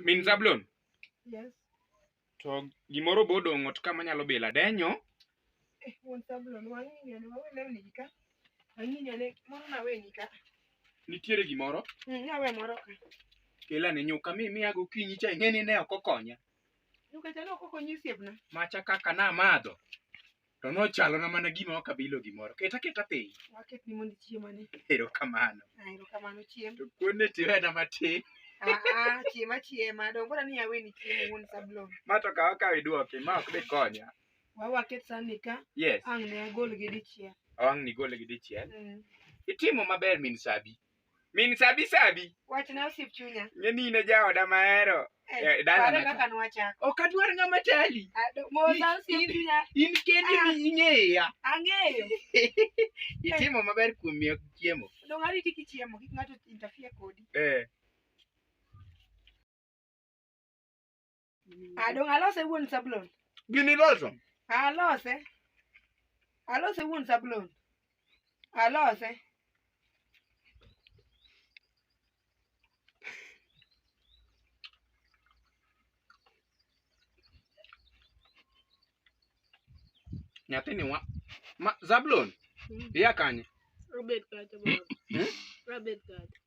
Min Zablon, Yes. to gimoro be odong' ot ka manyalo bilo adenyo. Eh, mon Zablon, wang'ingane, wawe lewni gi ka. Wang'ingane, moro naweni ka. Nitiere gimoro, Mm, nawe moro ka. kela ne nyuka mi miya gokinyi cha ing'e ni ne ok okonya. Nyuka cha ne ok okonyi osiepna. Macha kaka namadho, To nochalona mana gima ok abilo gimoro. Keta keta piny. Waket ni mondo chiemani. Erokamano. Ah, erokamano chiem. To kuonde tiwena matin. Ah, ah, chiema chiema. Dongo bora ni aweni chiemo wuon sablon. Ma to kawa kawa iduoki, ma ok dhi konya. Wa waket sani ka. Yes. Ang' ne agol gi dichiel. Ang' nigol gi dichiel. Mm. Itimo maber min Sabi. Min Sabi Sabi, Wachna osiep chunya. ng'e ni in e jaoda mahero. Eh, Eh, dala pare na- kaka nwachako. Ok adwar ng'ama tali. Ah, do- Mosa osiep chunya. In kendi Ah. mi ing'eya. Ang'eyo. Itimo maber kuom miyo chiemo. Dong ariti kichiemo kik ng'ato interfere kodi. Eh. Adong alose wuon Sablon. Gini loso. Alose. Alose wuon Sablon. Alose. Nyathini wa. Ma, Zablon, iya kanye? Robert Kata. Hmm? Robert Kata.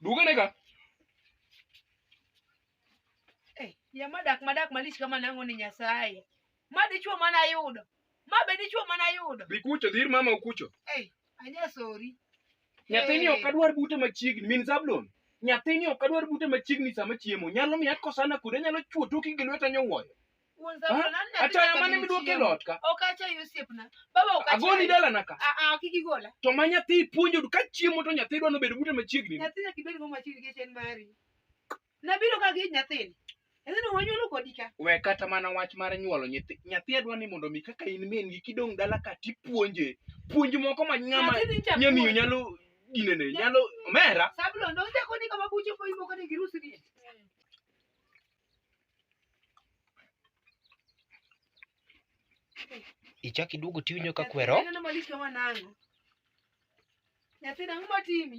Duga ne ka. Eh, ya madak madak malich kama nango ni Nyasaye. Ma dichwo mana yudo. Ma be dichwo mana yudo. Dhi kucho, dhir mama ukucho. Eh, anya sorry. Nyathini Eh. ok adwar bute machiegni, min Zablon. Nyathini ok adwar bute machiegni sama chiemo. Nyalo miya kosana kude, nyalo chwo toki gi lweta nyowuoyo. Wuon Samuel, Ha? nani Acha nataka yamane midwoke kabinti lot ka. yao? Ok acha hiyo step na. Baba ok acha. Agoni dala na ka. Ah ah kiki gola. To ma nyathi ipuonjo du ka chiemo to nyathi dwa nobedo bute machiegni. Nyathi nyaka ibed go machiegni gi chen mari. Nabiro ka gi nyathini. Nyathini wanyuolo kodi ka. We kata mana wach mar nyuolo nyathi. Nyathi adwa ni mondo mi kaka in min gi kidong dala ka tipuonje. Puonj moko ma nyama Nyathini ncha nyamiyo puonj. nyalo dinene nyalo omera. Sablo ndo nja koni kama buche po ibo kani girusi ni. ichak iduogo tiwinjo ka kwero Nyathina ang'o matimi?